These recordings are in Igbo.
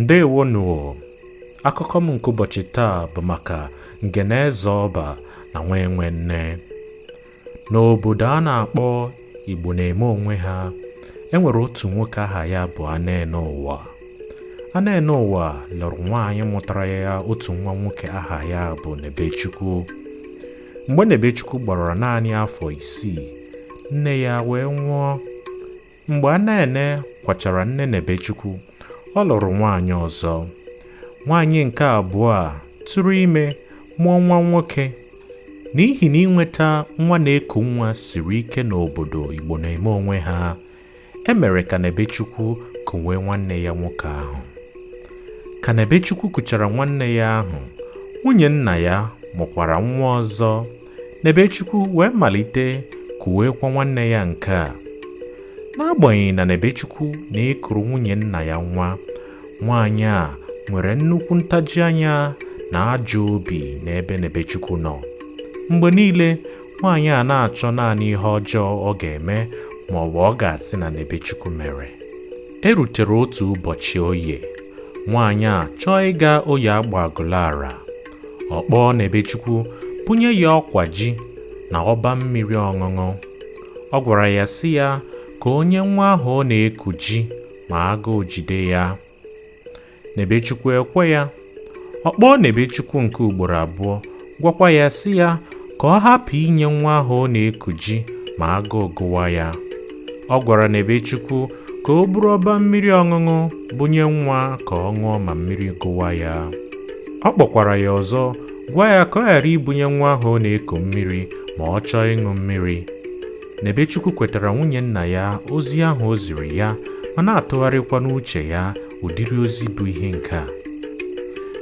ndewonụ akụkọ m nke ụbọchị taa bụ maka ngene eze ọba na nwa enwe nne n'obodo a na-akpọ igbo na-eme onwe ha e nwere otu nwoke aha ya bụ anene ụwa anene ụwa lụrụ nwaanyị mụtara ya otu nwa nwoke aha ya bụ nebechukwu mgbe nebechukwu gbara naanị afọ isii nne ya wee nwụọ mgbe Anene kwachara nne Nebechukwu ọ lụrụ nwaanyị ọzọ nwaanyị nke abụọ a tụrụ ime mụọ nwa nwoke n'ihi na inweta nwa na-eku nwa siri ike n'obodo Igbo na-eme onwe ha e mere ka Nebechukwu kuwe nwanne ya nwoke ahụ ka Nebechukwu kuchara nwanne ya ahụ nwunye nna ya mụkwara nwa ọzọ Nebechukwu wee malite kuwekwa nwanne ya nke a. N'agbanyeghị na Nebechukwu na-ekuru nwunye nna ya nwa, nwaanyị a nwere nnukwu ntaji anya na ajọ obi n'ebe Nebechukwu nọ. Mgbe niile, nwaanyị a na-achọ naanị ihe ọjọọ ọ ga-eme ma ọ bụ ọ ga-asị na Nebechukwu mere. E rutere otu ụbọchị oye, nwaanyị a chọọ ịga oye Agbagụlara. ọ kpọọ Nebechukwu bunye ya ọkwa ji na ọba mmiri ọṅụṅụ ọ gwara ya sị ya ka o nye nwa ahụ ọ na-eku ji ma agụụ jide ya Nebechukwu ekwe ya ọ kpọọ Nebechukwu nke ugboro abụọ gwakwa ya sị ya ka ọ hapụ inye nwa ahụ ọ na-eku ji ma agụụ gụwa ya ọ gwara Nebechukwu ka o buru ọba mmiri ọṅụṅụ bunye nwa ka ọ ṅụọ ma mmiri gụwa ya ọ kpọkwara ya ọzọ gwa ya ka ọ ghara ibunye nwa ahụ ọ na-eku mmiri ma ọ chọọ ịṅụ mmiri Nebechukwu kwetara nwunye nna ya ozi ahụ o ziri ya ma na-atụgharịkwa n'uche ya ụdịrị ozi bụ ihe nke a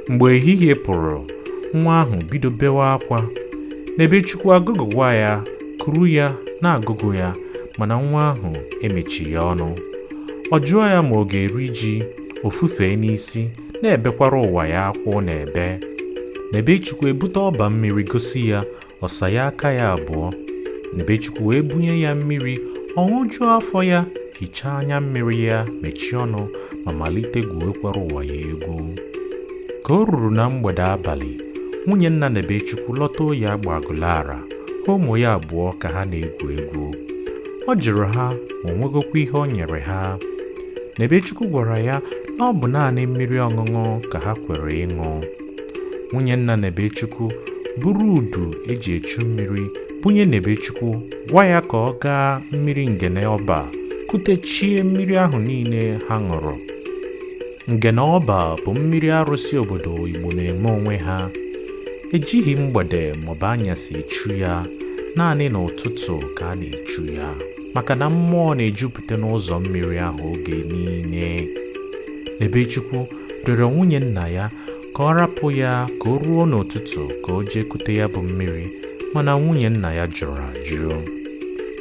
mgbe ehihie pụrụ nwa ahụ bido bewa akwa Nebechukwu agụgụwa ya kuru ya na-agụgụ ya mana nwa ahụ emechighị ọnụ ọ jụọ ya ma ọ ga-eri ji o fufee n'isi na-ebekwara ụwa ya akwa ọ na-ebe Nebechukwu ebute ọba mmiri gosi ya ọ saa ya aka ya abụọ Nebechukwu wee bunye ya mmiri ọ ṅụjuo afọ ya hichaa anya mmiri ya mechie ọnụ ma malite gwuwekwara ụwa ya egwu ka o ruru na mgbede abalị nwunye nna Nebechukwu lọta oye Agbagụlara ụmụ ya abụọ ka ha na-egwu egwu ọ jụrụ ha ma o nwegokwa ihe o nyere ha Nebechukwu gwara ya na ọ bụ naanị mmiri ọṅụṅụ ka ha kwere ịṅụ nwunye nna Nebechukwu buru udu eji echu mmiri bunye Nebechukwu gwa ya ka ọ gaa mmiri ngene ọba kutechie mmiri ahụ niile ha ṅụrụ ngene ọba bụ mmiri arụsị obodo Igbo na-eme onwe ha Ejighị mgbede maọbụ anyasị echu ya, naanị n'ụtụtụ ka a na-echu ya, maka na mmụọ na-ejupụta n'ụzọ mmiri ahụ oge niile. Nebechukwu rịọrọ nwunye nna ya ka ọ rapụ ya ka o ruo n'ụtụtụ ka o jee kute ya bụ mmiri mana nwunye nna ya jụrụ ajụ.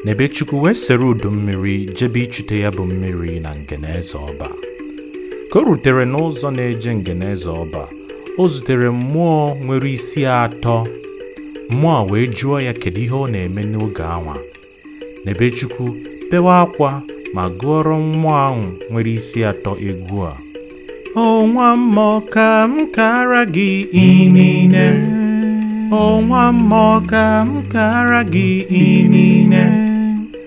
Nebechukwu wee sere udu mmiri jebe ichute ya bụ mmiri na Ngeneze Ọba. Ka o rutere n'ụzọ na-eje Ngeneze Ọba o zutere mmụọ nwere isi atọ mmụọ wee jụọ ya kedu ihe ọ na-eme n'oge anwa Nebechukwu bewa akwa ma gụọrọ mmụọ ahụ nwere isi atọ egwu a o nwa mmụọ ka m kara gị inine o nwa mmụọ ka m kara gị inine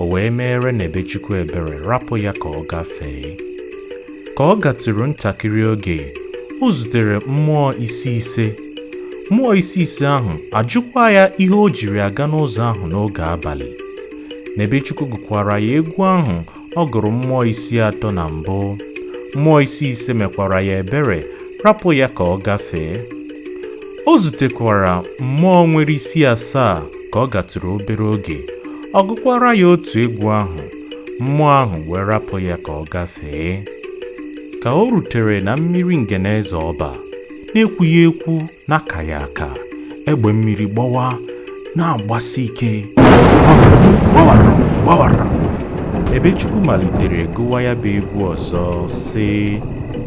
o wee meere Nebechukwu ebere rapụ ya ka ọ gafee. Ka ọ gatụrụ ntakịrị oge, o zutere mmụọ isi ise. Mmụọ isi ise ahụ ajụkwa ya ihe o jiri aga n'ụzọ ahụ n'oge abalị. Nebechukwu gụkwara ya egwu ahụ ọ gụrụ mmụọ isi atọ na mbụ. Mmụọ isi ise mekwara ya ebere rapụ ya ka ọ gafee. O zutekwara mmụọ nwere isi asaa ka ọ gatụrụ obere oge. ọ gụkwara ya otu egwu ahụ mmụọ ahụ wee rapụ ya ka ọ gafee ka o rutere na mmiri ngeneze ọba na-ekwughị ekwu na-akaghị aka egbe mmiri gbawa na-agbasi ike gbawara gbawara Nebechukwu malitere gụwa ya bụ egwu ọzọ sị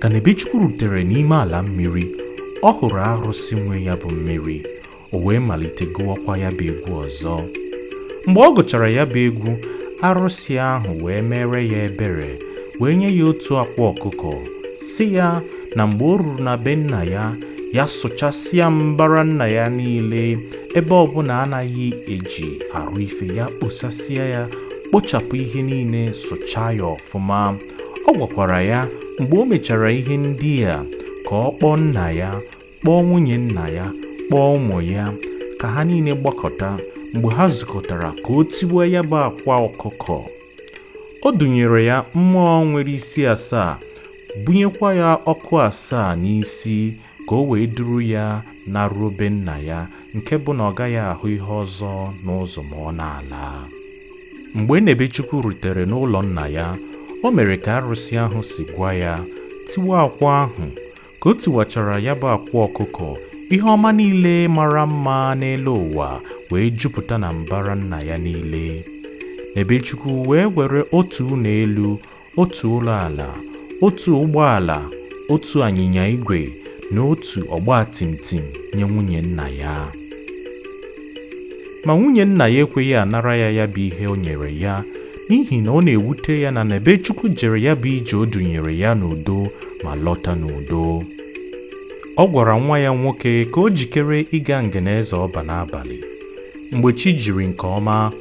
ka Nebechukwu rutere n'ime ala mmiri ọ hụrụ arụsị nwe ya bụ mmiri o wee malite gụwakwa ya bụ egwu ọzọ mgbe ọ gụchara ya bụ egwu arụsị ahụ wee meere ya ebere wee nye ya otu akwa ọkụkọ sị ya na mgbe o ruru na be nna ya ya sụchasịa mbara nna ya niile ebe ọbụla anaghị eji arụ ife ya kposasịa ya kpochapụ ihe niile sụchaa ya ọfụma ọ gwakwara ya mgbe o mechara ihe ndị a ka ọ kpọọ nna ya kpọọ nwunye nna ya kpọọ ụmụ ya ka ha niile gbakọta mgbe ha zukọtara ka o tigwoo ya bụ akwa ọkụkọ o dunyere ya mmụọ nwere isi asaa bunyekwa ya ọkụ asaa n'isi ka o wee duru ya naruo be nna ya nke bụ na ọ gaghị ahụ ihe ọzọ n'ụzọ ma ọ na-ala mgbe Nebechukwu rutere n'ụlọ nna ya o mere ka arụsị ahụ si gwa ya tiwa akwa ahụ ka o tiwachara ya bụ akwa ọkụkọ ihe ọma niile mara mma n'elu ụwa wee jupụta na mbara nna ya niile Nebechukwu wee were otu ụlọ elu otu ụlọ ala otu ụgbọala otu anyịnya igwe na otu ọgba tum tum nye nwunye nna ya ma nwunye nna ya ekweghị anara ya ya bụ ihe o nyere ya n'ihi na ọ na-ewute ya na Nebechukwu jere ya bụ ije o dunyere ya n'udo ma lọta n'udo ọ gwara nwa ya nwoke ka o jikere ịga Ngene Eze Ọba n'abalị mgbe chi jiri nke ọma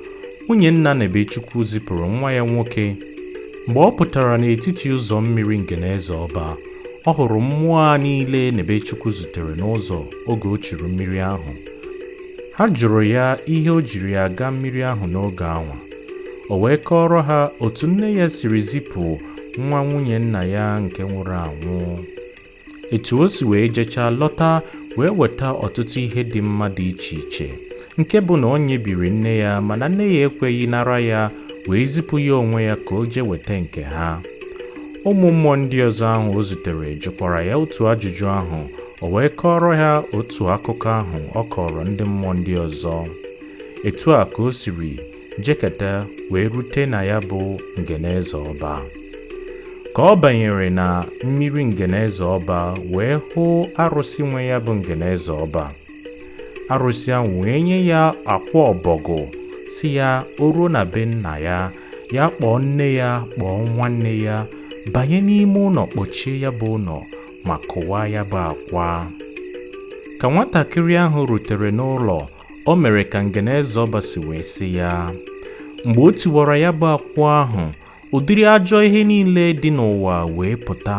nwunye nna Nebechukwu zipụrụ nwa ya nwoke mgbe ọ pụtara n'etiti ụzọ mmiri Ngene Eze Ọba ọ hụrụ mmụọ a niile Nebechukwu zutere n'ụzọ oge o churu mmiri ahụ ha jụrụ ya ihe o jiri ya aga mmiri ahụ n'oge anwa o wee kọọrọ ha otu nne ya siri zipụ nwa nwunye nna ya nke nwụrụ anwụ etu o si wee jechaa lọta wee weta ọtụtụ ihe dị mma dị iche iche nke bụ na o nyebiri nne ya mana nne ya ekweghị nara ya wee zipụ ya onwe ya ka o jee weta nke ha ụmụ mmụọ ndị ọzọ ahụ o zutere jụkwara ya otu ajụjụ ahụ o wee kọọrọ ha otu akụkọ ahụ ọ kọọrọ ndị mmụọ ndị ọzọ etu a ka o siri jeketa wee rute na ya bụ Ngene Eze Ọba ka ọ banyere na mmiri Ngene Eze Ọba wee hụ arụsị nwe ya bụ Ngene Eze Ọba arụsị ahụ wee nye ya akwa ọbọgụ sị ya o ruo na be nna ya ya kpọọ nne ya kpọọ nwanne ya banye n'ime ụlọ kpọchie ya bụ ụlọ ma kụwaa ya bụ akwa ka nwatakịrị ahụ rutere n'ụlọ o mere ka Ngene Eze Ọba si wee sị ya mgbe o tiwara ya bụ akwa ahụ ụdịrị ajọ ihe niile dị n'ụwa wee pụta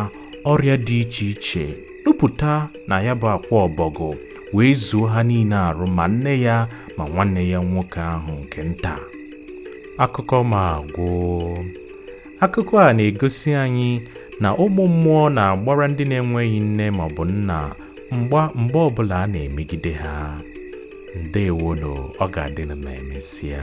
ọrịa dị iche iche nupụta na ya bụ akwa ọbọgụ wee zuo ha niile arụ ma nne ya ma nwanne ya nwoke ahụ nke nta akụkọ m agwụ Akụkọ a na-egosi anyị na ụmụ mmụọ na-agbara ndị na-enweghị nne ma ọ bụ nna mgba mgbe ọbụla a na-emegide ha. Ndeewonụ, ọ ga-adị na ma emesịa.